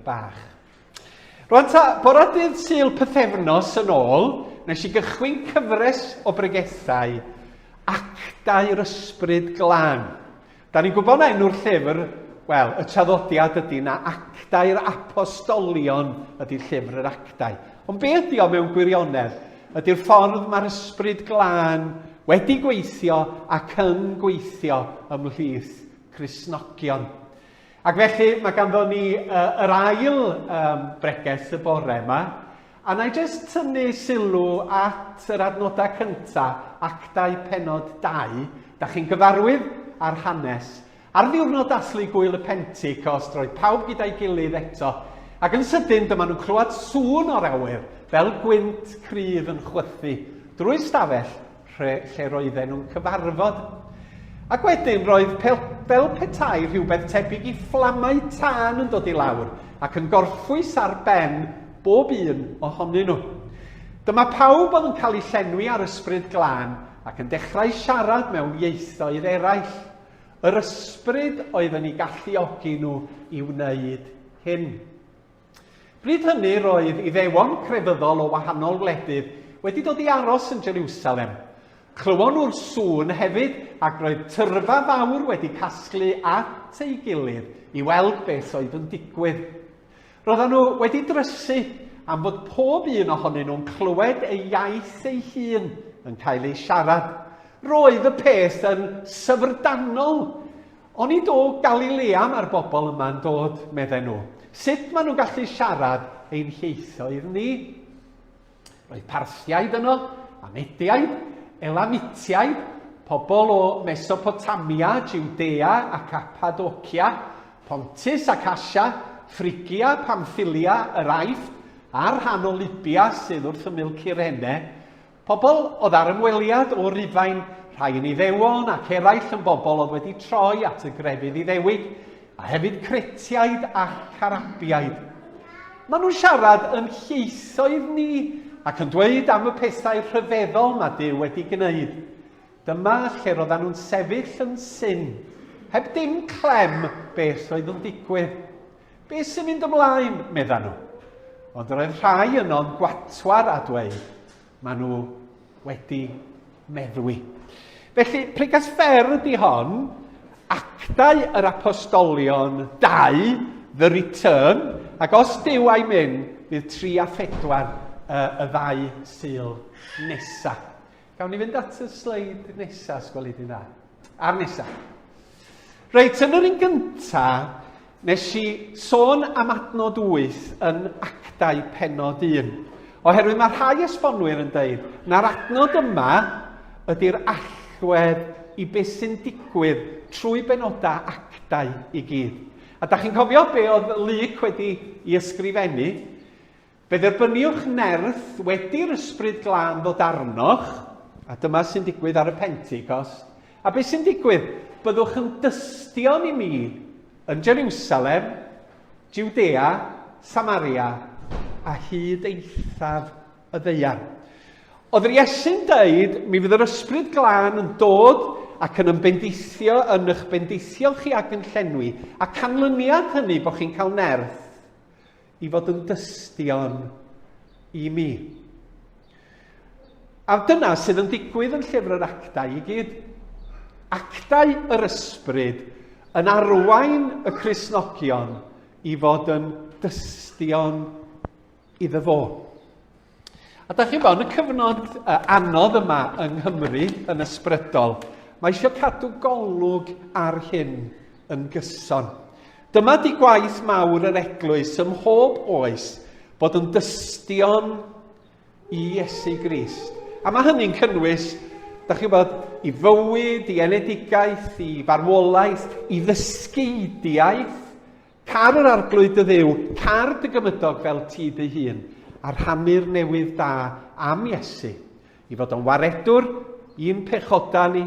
bach. Rwan ta, bora dydd syl pythefnos yn ôl, nes i gychwyn cyfres o bregethau actau yr ysbryd glân. Da ni'n gwybod na enw'r llyfr, wel, y traddodiad ydy na actau'r apostolion ydy llyfr yr actau. Ond be ydy o mewn gwirionedd? Ydy'r ffordd mae'r Ysbryd Glân wedi gweithio ac yn gweithio ymhlith Cristnogion. Ac felly, mae ganddo ni uh, yr ail um, bregeth y bore yma, a na i jyst tynnu sylw at yr adnodau cyntaf, actau penod 2, da chi'n gyfarwydd â'r hanes, Ar ddiwrnod dathlu Gŵyl y Pentecost, roedd pawb gyda'i gilydd eto, ac yn sydyn dyma nhw'n clywed sŵn o'r awyr, fel gwynt cryf yn chwythu drwy'r stafell rhe, lle roedden nhw'n cyfarfod. Ac wedyn roedd pel, fel petai rhywbeth tebyg i fflamau tân yn dod i lawr ac yn gorffwys ar ben bob un ohonyn nhw. Dyma pawb oedd yn cael eu llenwi â'r ysbryd glân ac yn dechrau siarad mewn ieithoedd eraill. Yr Ysbryd oedd yn eu galluogi nhw i wneud hyn. Bryd hynny roedd Iddewon crefyddol o wahanol wledydd wedi dod i aros yn Jerusalem. Clywon nhw'r sŵn hefyd ac roedd tyrfa fawr wedi casglu at ei gilydd i weld beth oedd yn digwydd. Roeddan nhw wedi drysu am fod pob un ohonyn nhw'n clywed ei iaith ei hun yn cael ei siarad. Roedd y peth yn syfrdanol. O'n i do Galilea mae'r bobl yma'n dod, medden nhw. Sut maen nhw'n gallu siarad ein hieithoedd ni? Roedd Parthiaid yno, a Mediaid, Elamitiaid, pobl o Mesopotamia, Judea a Cappadocia, Pontus ac Asia, Ffrigia, Pamffilia, yr Aifft, a'r rhan o Libia sydd wrth ymyl Cyrene. Pobl oedd ar ymweliad o Rufain, rhai yn Iddewon ac eraill yn bobl oedd wedi troi at y grefydd Iddewig, a hefyd Cretiaid ac Arabiaid. Maen nhw'n siarad yn lleithoedd ni ac yn dweud am y pethau rhyfeddol mae Duw wedi gwneud. Dyma lle roedden nhw'n sefyll yn syn, heb dim clem beth oedd yn digwydd. Be sy'n mynd ymlaen, medda nhw. Ond roedd rhai yno'n gwatwar a dweud, Maen nhw wedi meddwi. Felly, pregas fer ydy hon, actau yr apostolion 2, the return, ac os dyw a'i mynd, bydd 3 a 4 uh, y ddau syl nesaf. Gawn ni fynd at y sleid nesaf, sgwelid yn dda. A'r nesaf. Reit, yn yr un gynta, nes i sôn am adnod 8 yn actau penod 1. Oherwydd mae rhai esbonwyr yn dweud na'r adnod yma ydy'r allwedd i beth sy'n digwydd trwy benodau actau i gyd. A da chi'n cofio be oedd Luc wedi i ysgrifennu? Fe dderbyniwch nerth wedi'r Ysbryd Glân ddod arnoch, a dyma sy'n digwydd ar y Pentecost. A beth sy'n digwydd? Byddwch yn dystion i mi yn Jerusalem, Judea, Samaria, a hyd eithaf y ddeuan. Oedd yr Iesu'n dweud, mi fydd yr Ysbryd Glân yn dod ac yn ymbendeithio yn eich bendeithiol chi ac yn llenwi, a canlyniad hynny bod chi'n cael nerth. i fod yn dystion i mi. A dyna sydd yn digwydd yn llyfr yr actau i gyd. Actau yr ysbryd yn arwain y Cresnogion i fod yn dystion iddo fo. A da chi'n bod, yn y cyfnod anodd yma yng Nghymru yn ysbrydol, mae eisiau cadw golwg ar hyn yn gyson. Dyma di gwaith mawr yr eglwys ym mhob oes bod yn dystion i Iesu Grist. A mae hynny'n cynnwys, da chi'n bod, i fywyd, i enedigaeth, i farwolaeth, i ddysgeidiaeth, Car yr Arglwydd dy Dduw, car dy gymydog fel ti dy hun, a rhannu'r newydd da am Iesu, i fod o'n waredwr i'n pechodau ni,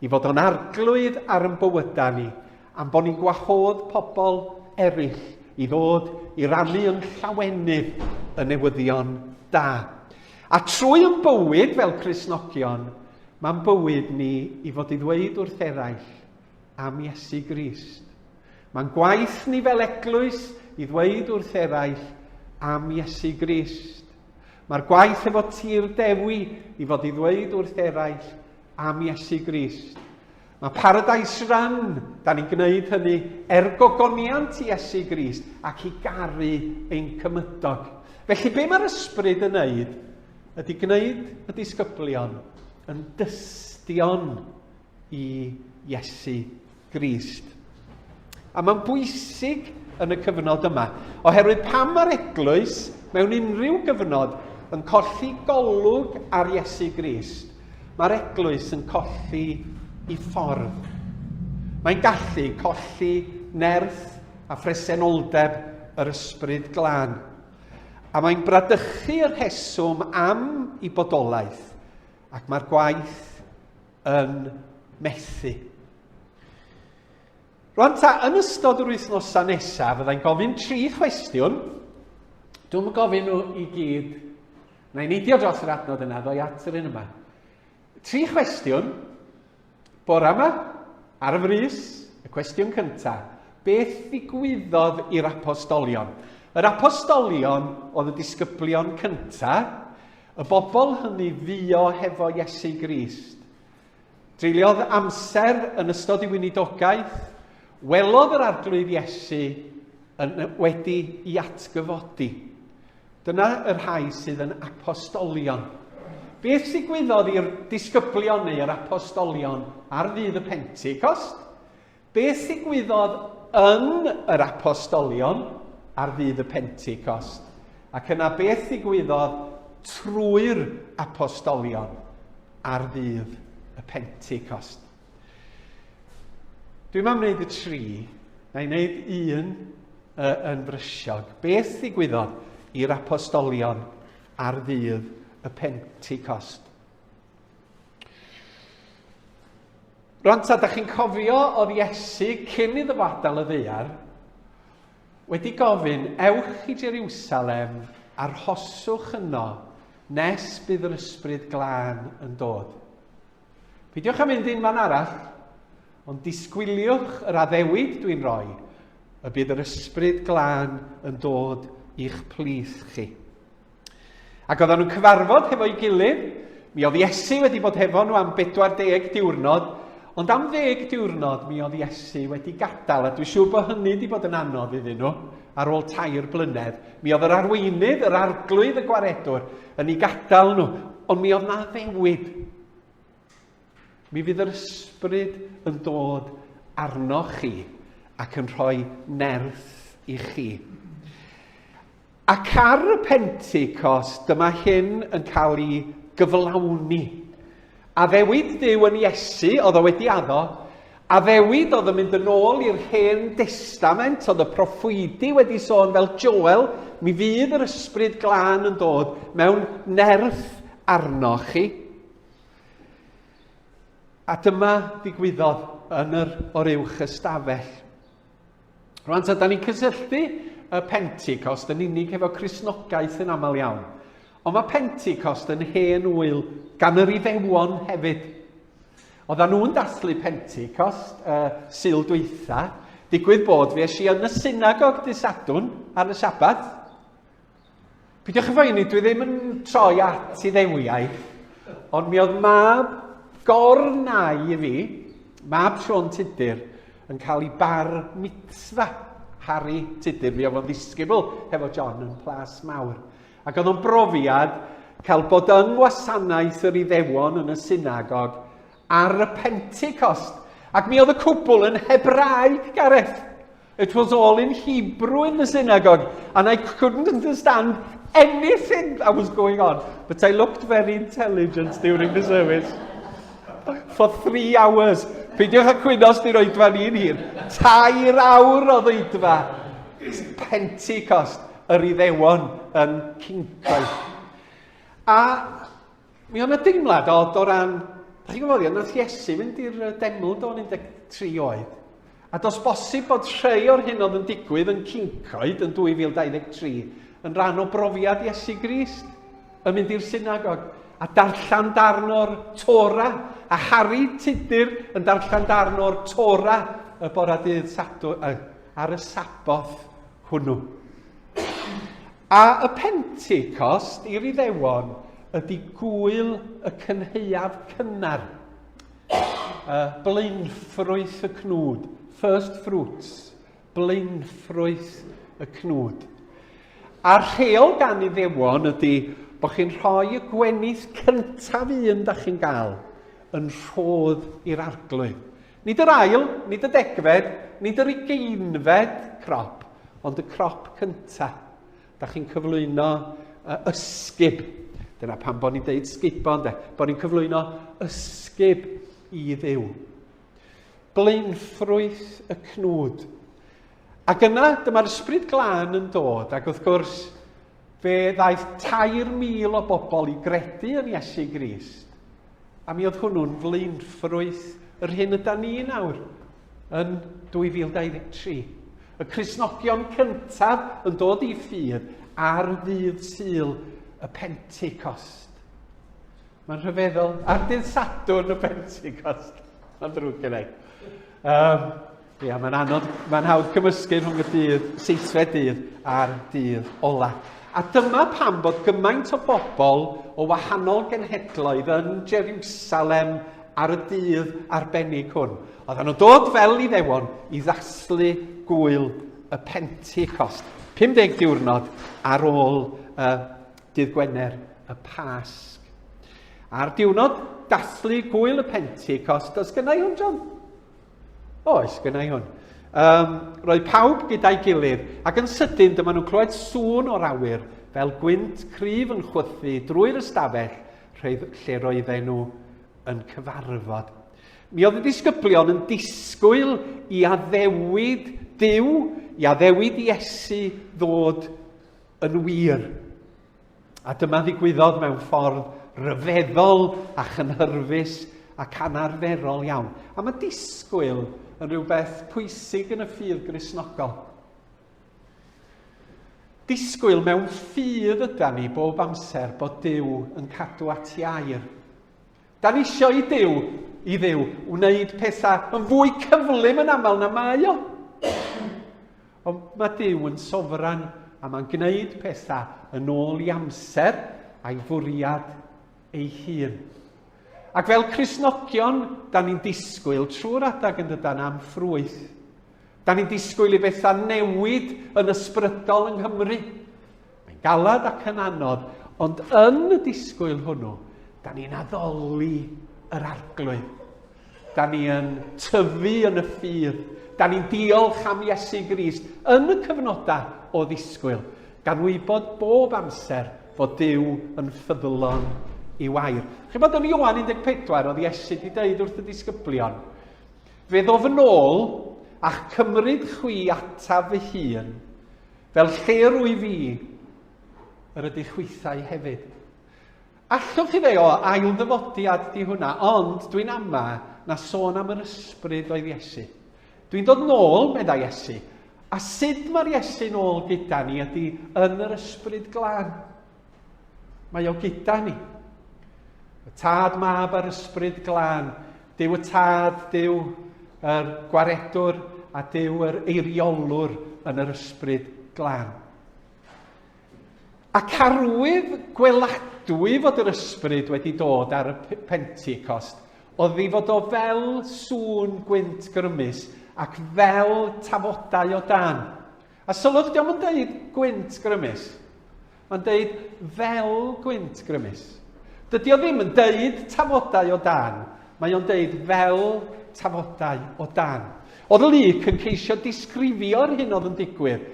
i fod o'n arglwydd ar yn bywydau ni, am bod ni'n gwahodd pobl eraill i ddod i rannu yn llawenydd y newyddion da. A trwy yn bywyd fel Crisnogion, mae'n bywyd ni i fod i ddweud wrth eraill am Iesu Grist. Mae'n gwaith ni fel eglwys i ddweud wrth eraill am Iesu Grist. Mae'r gwaith efo tir dewi i fod i ddweud wrth eraill am Iesu Grist. Mae Paradise Run, da ni'n gwneud hynny er gogoniant i Iesu Grist ac i garu ein cymydog. Felly be mae'r ysbryd yn wneud ydy gwneud y disgyblion yn dystion i Iesu Grist. A mae'n bwysig yn y cyfnod yma, oherwydd pam mae'r eglwys mewn unrhyw gyfnod yn colli golwg ar Iesu Grist, mae'r eglwys yn colli i ffordd. Mae'n gallu colli nerth a phresenoldeb yr ysbryd glân. A mae'n bradychu y rheswm am i bodolaeth, ac mae'r gwaith yn methu. Rwan ta, yn ystod yr wythnosau nesaf, fyddai'n gofyn tri chwestiwn. Dwi'n gofyn nhw i gyd, na i neidio dros yr adnod yna, ddoi at yr un yma. Tri chwestiwn, bore yma, ar y frys, y cwestiwn cyntaf, beth ddigwyddodd i'r apostolion? Yr apostolion oedd y disgyblion cyntaf, Y bobl hynny fuo hefo Iesu Grist. Treuliodd amser yn ystod ei weinidogaeth, welodd yr Arglwydd Iesu yn wedi i atgyfodi. Dyna y rhai sydd yn apostolion. Beth ddigwyddodd i'r disgyblion neu yr apostolion ar ddydd y Pentecost? Beth ddigwyddodd yn yr Apostolion ar ddydd y Pentecost, ac yna beth ddigwyddodd trwy'r Apostolion ar ddydd y Pentecost. Dwi'n am wneud y tri, na i wneud un uh, yn frysiog. Beth ddigwyddodd i'r apostolion ar ddydd y Pentecost? Rwan ta, da chi'n cofio oedd Iesu cyn iddo fo adael y ddeiar wedi gofyn, ewch i Jerusalem a rhoswch yno nes bydd yr ysbryd glân yn dod. Peidiwch â mynd un man arall, ond disgwyliwch yr addewid dwi'n rhoi, y bydd yr ysbryd glân yn dod i'ch plith chi. Ac oedden nhw'n cyfarfod hefo'i gilydd, mi oedd Iesu wedi bod hefo nhw am 40 diwrnod, ond am ddeg diwrnod mi oedd Iesu wedi gadael, a dwi'n siŵr bod hynny wedi bod yn anodd iddyn nhw ar ôl tair blynedd. Mi oedd yr arweinydd, yr arglwydd, y gwaredwr yn ei gadael nhw, ond mi oedd na ddewid. Mi fydd yr ysbryd yn dod arnoch chi ac yn rhoi nerth i chi. Ac ar y Pentecost, dyma hyn yn cael ei gyflawni. Addewid Duw yn Iesu, oedd o wedi addo, addewid oedd yn mynd yn ôl i'r hen destament, oedd y proffwydi wedi sôn fel Joel, mi fydd yr ysbryd glân yn dod mewn nerth arno chi. A dyma ddigwyddodd yn yr oruwch ystafell. Rwan ta, da ni'n cysylltu y Pentecost yn unig efo Crisnogaeth yn aml iawn. Ond mae Pentecost yn hen wyl gan yr Iddewon hefyd. Oedden nhw'n dathlu Pentecost y uh, syl dweitha, digwydd bod fi eisiau yn y synagog dysadwn ar y Sabbath, Pidwch y phoeni, dwi ddim yn troi at i ddewiaeth, ond mi oedd mab gornau i fi, mab Siôn Tudur, yn cael ei bar mitzfa Harry Tudur. Mi oedd o'n ddisgybl hefo John yn plas mawr. Ac oedd o'n brofiad cael bod yng ngwasanaeth yr iddewon yn y synagog ar y Pentecost. Ac mi oedd y cwbl yn Hebraeg, Gareth. It was all in Hebrew in the synagogue, and I couldn't understand anything that was going on. But I looked very intelligent during the service. For three hours. Peidiwch â cwyno os di'r oedfa ni'n hir. Tair awr o ddeudfa. Pentecost, yr iddewon yn cincoedd. A Mi oedd yna deimlad odd o ran, da chi'n gwybod, oedd wrth Iesu fynd i'r deml do'n 13 oed. A dos bosib bod rhai o'r hyn oedd yn digwydd yn Cincoed yn 2023 yn rhan o brofiad Iesu Grist yn mynd i'r synagog a darllen darn o'r Tora, a Harry Tudur yn darllen darn o'r Tora y bora dydd Sadwrn, ar y Saboth hwnnw. A y Pentecost i'r Iddewon ydy gwyl y cynheuaf cynnar, y blaenffrwyth y cnwd, first fruits, blaenffrwyth y cnwd. A'r rheol gan Iddewon ydy bod chi'n rhoi y gwenith cyntaf un da chi'n gael yn rhodd i'r arglwydd. Nid yr ail, nid y degfed, nid yr ugeinfed crop, ond y crop cyntaf. Da chi'n cyflwyno uh, ysgub. Dyna pan bod ni'n deud sgubo, de. Bod ni'n cyflwyno ysgub i ddew. Blaenffrwyth y cnwd. Ac yna, dyma'r ysbryd glân yn dod, ac wrth gwrs, fe ddaeth 3,000 o bobl i gredu yn Iesu Grist. A mi oedd hwnnw'n flaenffrwyth yr hyn yda ni nawr yn 2023. Y Crisnogion cyntaf yn dod i ffydd ar ddydd syl y Pentecost. Mae'n rhyfeddol. Ar dydd Sadwrn y Pentecost. Mae'n ddrwg gen i. Um, Ia, mae'n anodd, mae'n hawdd cymysgu rhwng y dydd seithfed dydd a'r dydd ola. A dyma pam bod gymaint o bobl o wahanol genhedloedd yn Jerusalem ar y dydd arbennig hwn. Oedden nhw'n dod fel i ddewon i ddaslu gwyl y Pentecost. 50 diwrnod ar ôl y dydd Gwener y Pasg. A'r diwrnod daslu gwyl y Pentecost, os gynnau hwn, John? Oes, gynnau hwn. Um, roedd pawb gyda'i gilydd, ac yn sydyn dyma nhw'n clywed sŵn o'r awyr, fel gwynt cryf yn chwythu drwy'r ystafell rhedd lle roedden nhw yn cyfarfod. Mi oedd y disgyblion yn disgwyl i addewid Dyw, i addewid Iesu ddod yn wir. A dyma ddigwyddodd mewn ffordd ryfeddol a chynhyrfus ac anarferol iawn. A mae disgwyl yn rhywbeth pwysig yn y ffydd grisnogol. Disgwyl mewn ffydd yda ni bob amser bod Dyw yn cadw at iair. Da ni isio i Duw, i Dduw, wneud pethau yn fwy cyflym yn aml na mae o. Ond mae Duw yn sofran a mae'n gwneud pethau yn ôl i amser a'i fwriad ei hun. Ac fel Crisnogion, da ni'n disgwyl trwy'r adag yn dydan am ffrwyth. Da ni'n disgwyl i bethau newid yn ysbrydol yng Nghymru. Mae'n galed ac yn anodd, ond yn y disgwyl hwnnw, da ni'n addoli yr arglwydd. Da ni yn tyfu yn y ffydd. Da ni'n diolch am Iesu Grist yn y cyfnodau o ddisgwyl, gan wybod bob amser fod Dyw yn ffyddlon i wair. Chi'n bod yn Iwan 14 oedd Iesu wedi dweud wrth y disgyblion, fe ddof yn ôl a'ch cymryd chwi ataf fy hun, Fel lle rwyf i, yr ydych chwithau hefyd. Allwch chi ddeo ailddyfodiad di hwnna, ond dwi'n ama na sôn am yr ysbryd oedd Iesu. Dwi'n dod nôl, meddai Iesu, a sut mae'r Iesu'n ôl gyda ni ydy yn yr ysbryd glân. Mae o gyda ni. Y Tad, Mab a'r Ysbryd Glân, Dyw y Tad, Dyw yr Gwaredwr a Dyw yr Eiriolwr yn yr Ysbryd Glân. Ac arwydd gweladwy fod yr Ysbryd wedi dod ar y Pentecost oedd ei fod o fel sŵn gwynt grymus ac fel tafodau o dan. A sylwch, dio'm yn deud gwynt grymus. Mae'n deud fel gwynt grymus. Dydy o ddim yn deud tafodau o dan, mae o'n deud fel tafodau o dan. Oedd Luc yn ceisio disgrifio'r hyn oedd yn digwydd,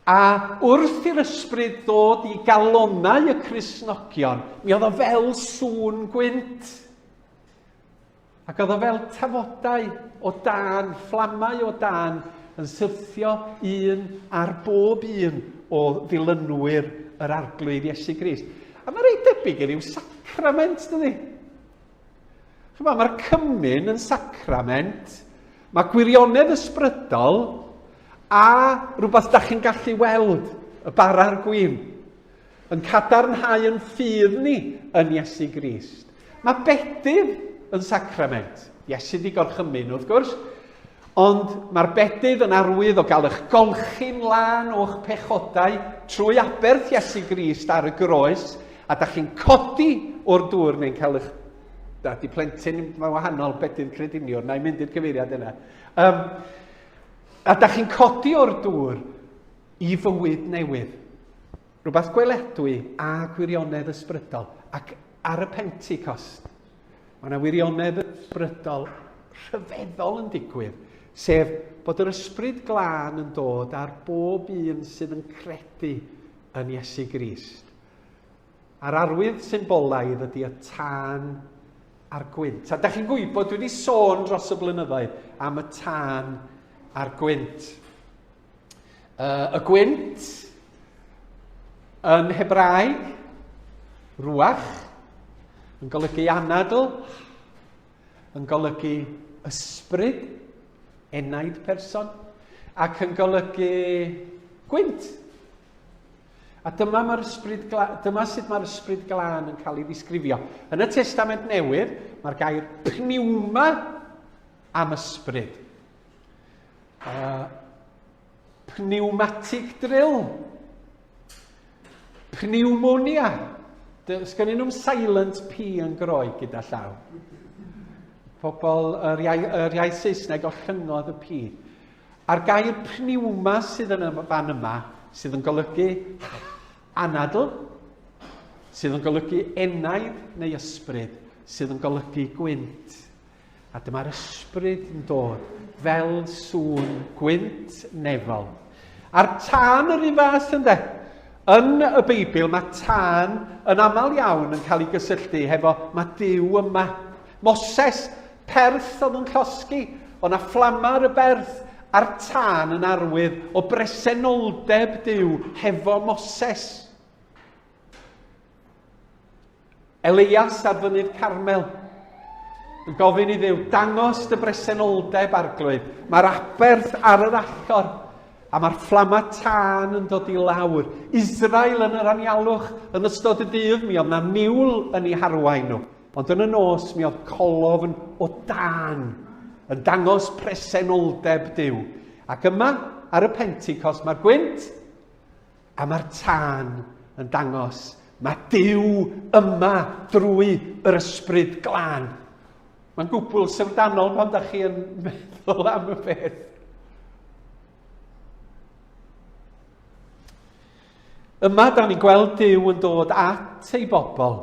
a wrth i'r ysbryd ddod i galonau y Crisnogion, mi oedd o fel sŵn gwynt. Ac oedd o fel tafodau o dân, fflamau o dân, yn syrthio un ar bob un o ddilynwyr yr arglwydd Iesu Grist. A mae'n rhaid debyg i ryw sacrament, dydy? Chyma, mae'r cymyn yn sacrament, mae gwirionedd ysbrydol, a rhywbeth da chi'n gallu weld, y bara'r gwyn. Yn cadarnhau yn ffydd ni yn Iesu Grist. Mae bedydd yn sacrament. Iesu di gorchymyn, wrth gwrs. Ond mae'r bedydd yn arwydd o gael eich golchi'n lân o'ch pechodau trwy aberth Iesu Grist ar y groes, a da chi'n codi o'r dŵr neu'n cael eich Da, di plentyn, mae wahanol bedydd crediniwr, na i mynd i'r cyfeiriad yna. Um, a da chi'n codi o'r dŵr, i fywyd newydd, rhywbeth gweledwy a gwirionedd ysbrydol, ac ar y Pentecost, mae yna wirionedd ysbrydol rhyfeddol yn digwydd, sef bod yr ysbryd glân yn dod ar bob un sydd yn credu yn Iesu Grist. A'r arwydd symbolaidd ydy y tân a'r gwynt. A da chi'n gwybod, dwi wedi sôn dros y blynyddoedd am y tân a'r gwynt. Uh, y gwynt, yn Hebraeg, ruach, yn golygu anadl, yn golygu ysbryd, enaid person, ac yn golygu gwynt. A dyma, mae'r ysbryd dyma sut mae'r ysbryd glân yn cael ei ddisgrifio. Yn y Testament Newydd, mae'r gair pniwma am ysbryd. A pneumatic drill. Pneumonia. Does gen nhw'm silent P yn groeg gyda llaw. Pobl yr iau, yr iau Saesneg o llyngodd y P. A'r gair pneumo sydd yn y fan yma, sydd yn golygu anadl, sydd yn golygu enaid neu ysbryd, sydd yn golygu gwynt. A dyma'r ysbryd yn dod fel sŵn gwynt nefol. A'r tân yr un fath ynde? Yn y Beibl mae tân yn aml iawn yn cael ei gysylltu hefo mae Dyw yma. Moses, perth oedd yn llosgi, ond a fflamar y berth a'r tân yn arwydd o bresenoldeb Dyw hefo Moses. Elias ar fynydd Carmel yn gofyn i ddew dangos dy bresenoldeb arglwydd. Mae'r aberth ar yr allor a mae'r fflama tân yn dod i lawr. Israel yn yr anialwch yn ystod y dydd mi oedd na niwl yn ei harwain nhw. Ond yn y nos mi oedd colof yn o dan yn dangos presenoldeb Dyw. Ac yma ar y Pentecost mae'r gwynt A mae'r tân yn dangos, mae Duw yma drwy yr ysbryd glân. Mae'n gwbl syfrdanol pan da chi yn meddwl am y peth. Yma, da ni'n gweld Dyw yn dod at ei bobl.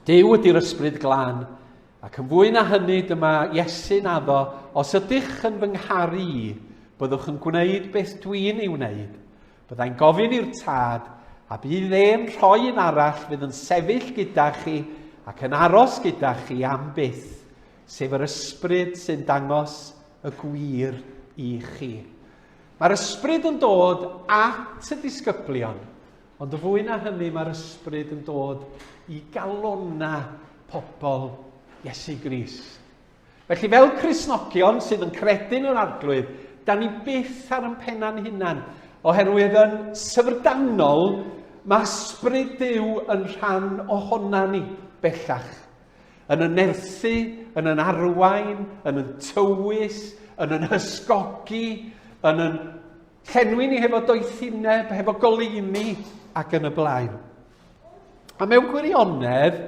Dyw ydy'r ysbryd glân, Ac yn fwy na hynny, dyma Iesu'n addo, Os ydych yn fy ngharu i, byddwch yn gwneud beth dwi'n ei wneud. Byddai'n gofyn i'r tad, a bydd e'n rhoi un arall fydd yn sefyll gyda chi ac yn aros gyda chi am byth, sef yr ysbryd sy'n dangos y gwir i chi. Mae'r ysbryd yn dod at y disgyblion Ond yn fwy na hynny, mae'r ysbryd yn dod i galonna pobl Iesu Grist. Felly, fel Crisnogion sydd yn credu yn yr arglwydd, da ni byth ar yn penna'n hunan, oherwydd yn syfrdanol mae ysbryd Duw yn rhan ohona ni bellach. Yn y nerthu, yn yn arwain, yn yn tywys, yn yn hysgogi, yn yn Llenwi ni hefo doethineb, hefo goleuni ac yn y blaen. A mewn gwirionedd,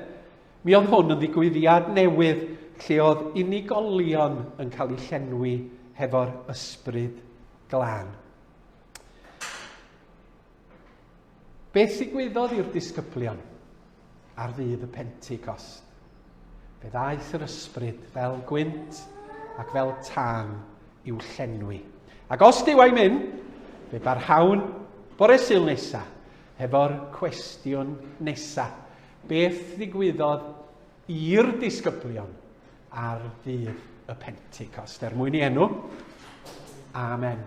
mi oedd hwn yn ddigwyddiad newydd lle oedd unigolion yn cael eu llenwi hefo'r ysbryd glân. Beth ddigwyddodd i'r disgyblion ar ddydd y Pentecost? Fe ddaeth yr ysbryd fel gwynt ac fel tân i'w llenwi. Ac os dyw a'i mynd, fe barhawn bore syl nesa hefo'r cwestiwn nesa. Beth ddigwyddodd i'r disgyblion ar ddydd y Pentecost? Er mwyn i enw. Amen.